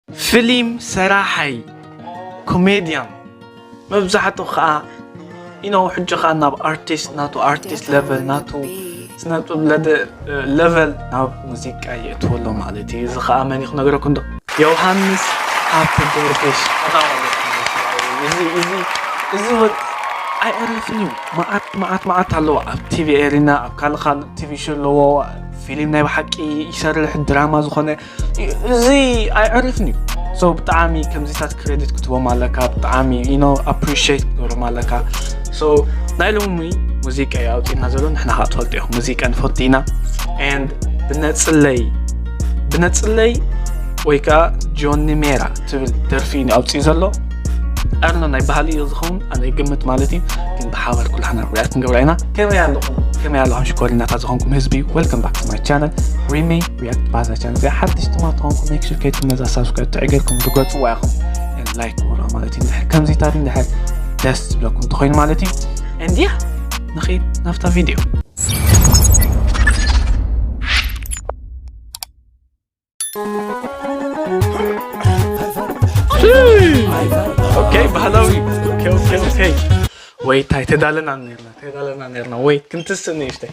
ፍሊም ሰራሓይ ኮሜድያን መብዛሕቱ ከኣ ኢኖ ሕጂ ከኣ ናብ ኣርቲስት ናቱ ኣርቲስት ለቨል ናቱ ስነጥብ ለቨል ናብ ሙዚቃ የእትዎ ኣሎ ማለት እዩ እዚ ከኣ መን ክነገረኩም ዶ ዮሃንስ ሃብቲ ገርግሽ እዚ እዚ እዚ ወድ ኣይዕረፍን እዩ መዓት መዓት መዓት ኣለዎ ኣብ ቲቪ ኤሪና ኣብ ካልእ ካልእ ቲቪ ሾ ኣለዎ ፊልም ናይ ብሓቂ ይሰርሕ ድራማ ዝኾነ እዚ ኣይዕርፍን እዩ ሶ ብጣዕሚ ከምዚታት ክሬዲት ክትቦም ኣለካ ብጣዕሚ ኢኖ ኣፕሪሽት ክትገብሮም ኣለካ ሶ ናይ ሎሚ ሙዚቃ እዩ ኣውፅና ዘሎ ንሕና ከዓ ትፈልጡ ኢኹም ሙዚቃ ንፈቱ ኢና ን ብነፅለይ ብነፅለይ ወይ ከዓ ጆኒ ሜራ ትብል ደርፊ እዩ ኣውፅኡ ዘሎ ኣርኖ ናይ ባህሊ እዩ ዝኸውን ኣነ ግምት ማለት እዩ ግን ብሓባር ኩላሕና ርያ ክንገብራ ኢና ከመይ ኣለኹም ከመይ ኣለኹም ሽኮሪናታት ዝኾንኩም ህዝቢ ወልከም ባክ ማይ ቻነል ሪሚ ውያት ባዛ ቻነ እዚ ሓድሽ ድማ ትኾንኩ ሜክሹ ከይትኩም ነዛ ሳብስክራይብ ጥዕ ጌርኩም ትገጽዋ ኢኹም ላይክ ውራ ማለት እዩ ድሕር ከምዚታት ድሕር ደስ ዝብለኩም እንተኮይኑ ማለት እዩ እንዲያ ንኸይድ ናብታ ቪድዮ ኦኬ ባህላዊ ኦኬ ኦኬ ኦኬ ወይታ ተዳለና ነርና ተዳለና ነርና ወይ ክንትስእ ንእሽተይ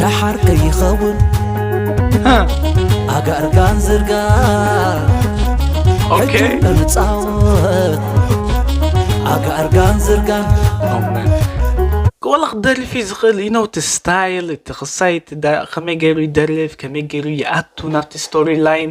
ደሓር ከይኸውን ኣጋርጋን ዝርጋ ኦኬ እንፃወት ኣጋርጋን ዝርጋን ወላ ክደርፍ እዩ ዝኽእል እዩ ነው እቲ ስታይል እቲ ክሳይ እቲ ዳ- ከመይ ገይሩ ይደርፍ ከመይ ገይሩ ይኣቱ ናብቲ ስቶሪ ላይን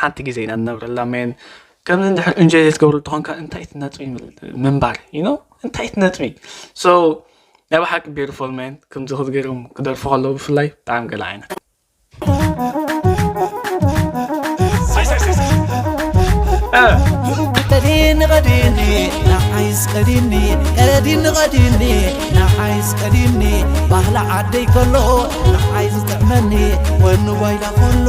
ሓንቲ ግዜ ኢና ንነብረላ መን ከምዚ እንድሕር እንጆይ ዘይትገብረሉ ተኾንካ እንታይ ትነጥቢ ምንባር ዩ እንታይ ትነጥቢ ሶ ናይ ብሓቂ ቢርፎል መን ከምዚ ክትገርም ክደርፉ ከለዉ ብፍላይ ብጣዕሚ ገለ ዓይነት ቀዲኒ ቀዲኒ ንዓይስ ቀዲኒ ቀዲኒ ቀዲኒ ንዓይስ ቀዲኒ ባህሊ ዓደይ ከሎ ንዓይ ዝጥዕመኒ ወኒ ዋይላ ከሎ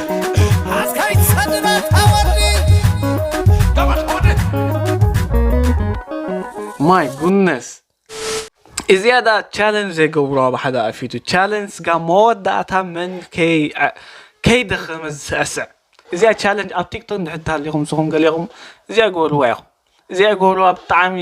ማይ ጉነስ እዚኣ ዳ ቻለንጅ ዘይገብሩ ኣብ ሓደ ኣፊቱ ቻለንጅ ጋ መወዳእታ መን ከይደኸመ ዝስዕስዕ እዚኣ ቻለንጅ ኣብ ቲክቶክ ንድሕር ተሃሊኹም ንስኹም ገሊኹም እዚኣ ገበርዋ ኢኹም እዚኣ ገበርዋ ብጣዕሚ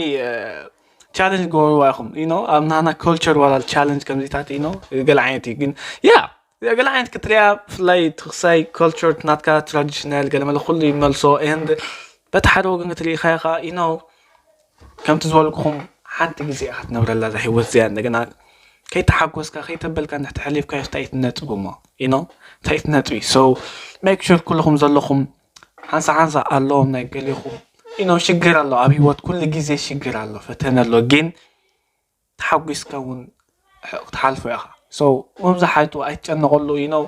ቻለንጅ ገበርዋ ኢኹም ኢኖ ኣብ ናና ኮልቸር ዋላ ቻለንጅ ከምዚታት ኢኖ ገለ ዓይነት እዩ ግን ያ እዚኣ ገለ ዓይነት ክትሪኣ ብፍላይ እቲ ክሳይ ኮልቸር ናትካ ትራዲሽናል ገለ መለ ኩሉ ይመልሶ ኤንድ በቲ ሓደ ወገን ክትሪኢኻዮ ከዓ ኢኖ ከምቲ ዝበልኩኹም ሓንቲ ግዜ ኢኻ ትነብረላ እዛ ሂወት እዚኣ እንደገና ከይተሓጎስካ ከይተበልካ ንሕቲ ሓሊፍካ እንታይ ትነጥቡ እሞ ኢኖ እንታይ ትነጥቢ ሶ ሜክ ሹር ኩልኹም ዘለኹም ሓንሳ ሓንሳ ኣለዎም ናይ ገሊኹም ኢኖ ሽግር ኣሎ ኣብ ሂወት ኩሉ ግዜ ሽግር ኣሎ ፈተነ ኣሎ ግን ተሓጒስካ ውን ክትሓልፎ ኢኻ so መብዛሓይቱ ኣይትጨነቐሉ you know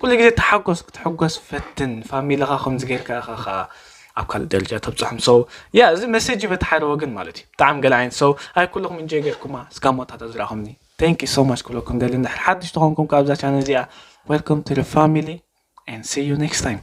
ኩሉ ግዜ ተሓጎስ ክትሕጎስ ፈትን ፋሚልኻ ከምዚ ጌርካ ኢኻ ከኣ ኣብ ካልእ ደረጃ ተብጽሖም so ያ እዚ መሴጅ በቲ ሓደ ወገን ማለት እዩ ብጣዕሚ ገለ ዓይነት so ኣይ ኩልኹም እንጆይ ጌርኩማ እስካብ መወዳእታ ዝረኣኹምኒ thank you so much ክብለኩም ደሊ እንድሕር ሓድሽ ተኾንኩም ከኣ ኣብዛ ቻነል እዚኣ welcome to the family and see you next time